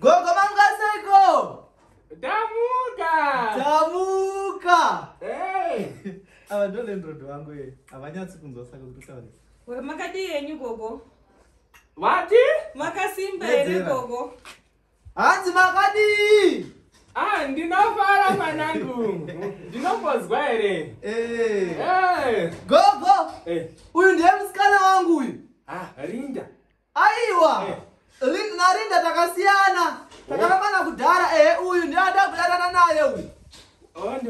Gogo mangaseko. Tamuka. Tamuka. Hey. Ava ndo landlord wangu ye. Havanyatsi kunzwa saka kuti taure. Makadii yenyu gogo? Vati? Makasimba here gogo? hanzi makadii ah ndinofara mwanangu ndinombonzwa here eh. eh. gogo eh. uyu ndiye musikana wangu uyu ah, rinda aiwa narinda takasiyana takarambana kudhara ehe uyu ndiada kudanana naye uyu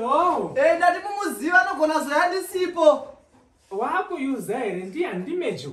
oh, e ndati mumuziva anogona zoya ndisipo waakuyuza here ndiya ndimejo